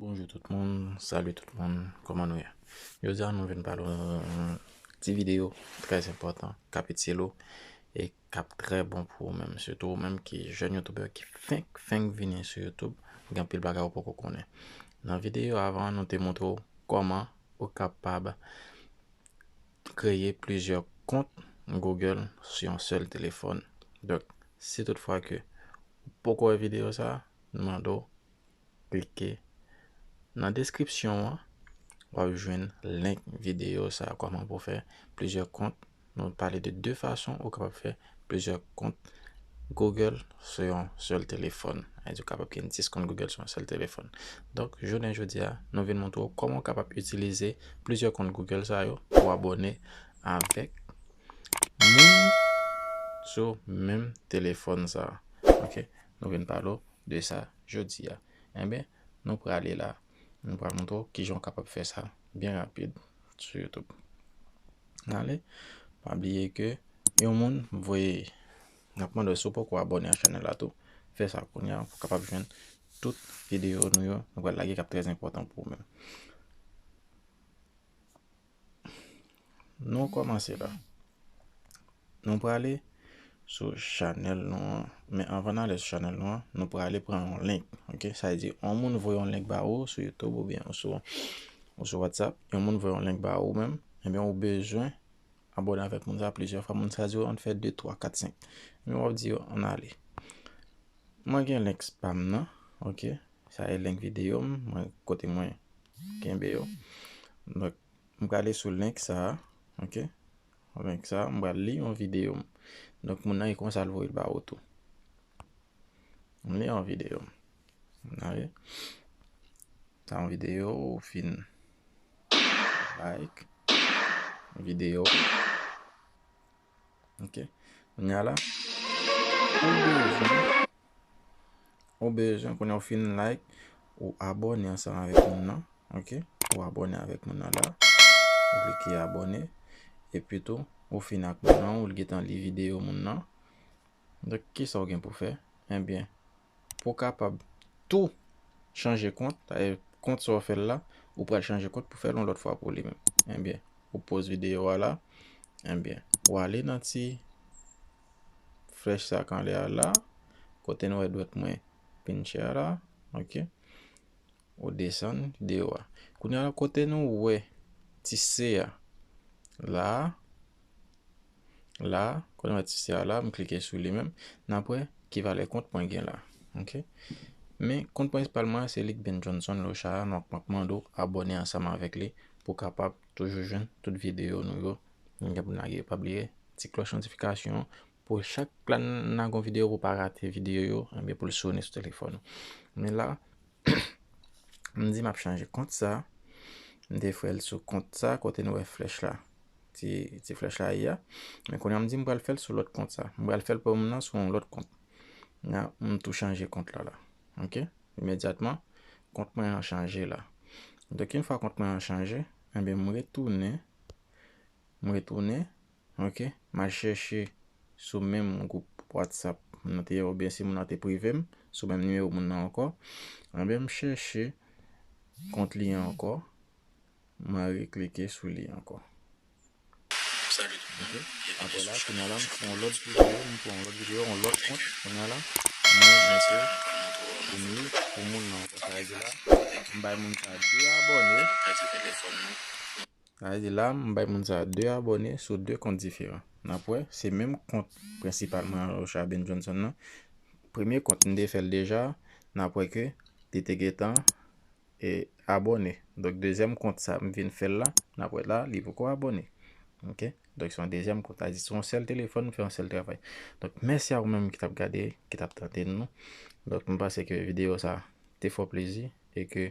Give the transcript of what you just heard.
Bonjou tout moun, salu tout moun, kòman nou ye? Jodi a nou vin pale yon ti videyo trè enpòtan k ap itil ou e k ap trè bon pou ou menm, sitou ou menm ki jèn youtubè ki fenk fenk vini sou youtube, gen anpil bagay ou poko konnen. Nan videyo avan an nou te montre ou kòman ou kapab kreye plizyè kont Google sou yon sèl telefòn. Donk, si tout fwa ke ou poko wè videyo sa, nou mande w klike nan deskripsyon an, wap jwenn link videyo sa, kòman pou fè plizyè kont. Nou pale de 2 fason ou kapab fè Plizyè kont Google sou yon sèl telefòn. Sa vle di ou kapab gen 10 kont Google sou yon sèl telefòn. Donk, jounen jodi a, nou vin montre ou kòman ou kapab itilize plizyè kont Google sa yo pou abone avèk moun sou menm telefòn sa. Ok, nou vin pale ou de sa jodi a. Enben, nou prale la. Mwen pral montre w kijan w kapab fè sa byen rapid sou YouTube. N ale, pa bliye ke yon moun voye, n ap mande w si w poko abone ak chanèl la tou, fè sa kounye a pou w kapab jwenn tout videyo nou yo nou pral lage k ap trèzenpòtan pou ou menm. Nou kòmanse la. Nou prale sou chanèl nou an. Men anvan nan ale sou chanèl nou an, nou prale pran yon link. Ok, sa di yon moun voye yon link ba ou sou YouTube ou byen sou WhatsApp. Yon moun voye yon link ba ou menm. Ebyen ou bezwen abone avèk moun sa plizyè fwa. Moun sa di ou an fè 2, 3, 4, 5. Ebyen wap di yo an ale. Mwen gen link spam nan. Ok, sa e link videyo m. Mwen kote mwen. Kenbe yo. Donk, m prale sou link sa a. Ok. Link sa a. M pral li yon videyo m. Donk, moun nan e konsa l voye l ba ou tou. M li yon videyo m. Gade. Sa yon videyo ou fin like. Videyo. Ok. Kounye a la. Ou bezwen kounye ou fin like. Ou abone ansanm avèk moun nan. Ok. Ou abone avèk moun nan la. Ou klike abone. E pi tou. Ou fin ak moun nan. Ou li gen tan li videyo moun nan. Dèk kisa ou gen pou fè. Ebyen. Eh pou w kapab tou chanje kont, kont sa w fè l la, ou pral chanje kont pou fè l yon lòt fwa pou li menm. Enbyen, ou poz videyo a la, enbyen, ou ale nan ti flèch sa k anlè a la, kote n wè dwèt mwen pinche a la, ok. Ou desann video a. Kounya la kote nou wè ti se a la a, la a, kote nou wè ti se a la a, m klike sou li menm, n ap wè ki valè kont mwen gen la. Ok. Men kont prensipal mwen an se li k Ben Johnson Locha a, donk m ap mande w abòne ansanm avèk li pou w kapab toujou jwenn tout video nou yo nou gen pou n lage yo. Pa bliye ti klòch notifikasyon an pou chak la n lage yon video pou w pa rate video yo, pou l sone sou telefòn ou. Men la a, M di m ap chanje kont sa. M te fè l sou kont sa kote nou wè flèch la. Ti flèch la ye a. Men kounye a m di m pral fè l sou lòt kont sa. M pral fè l pou m nan sou yon lòt kont. M tou chanje kont la la. Ok. Imedyatman, kont mwen an chanje la. Dèk yon fwa kont mwen an chanje, m retounen. M retounen Ok mal chèche sou menm group whatsapp moun nan te ye oubyen si moun nan te prive m sou menm nimewo moun nan ankò anben m chèche kont li an ankò mwen re klike sou li ankò ok aprè la kounya la m pran yon lòt videyo m pran yon lòt videyo yon lòt kont kounya la mwen mete pou m li pou moun nan ankò sa vle di la m bay moun sa 2 abòne. Sa vle di la m bay moun sa 2 abòne sou 2 kont diferan. N ap wè, se menm kont prensipal mwen an Rocha Ben Johnson nan. Premye kont m te fè l deja, n ap wè ke li te gentan abòne. Donk dezyèm kont sa m vin fè l la, n ap wè la li poko abòne. Ok, donk se yon dezyèm kont. Sa vle di se yon sèl telefòn m fè yon sèl travay. Donk mèsi a ou menm ki t ap gade, ki t ap tande n nan. Donk m panse ke videyo sa te fè w plezi e ke.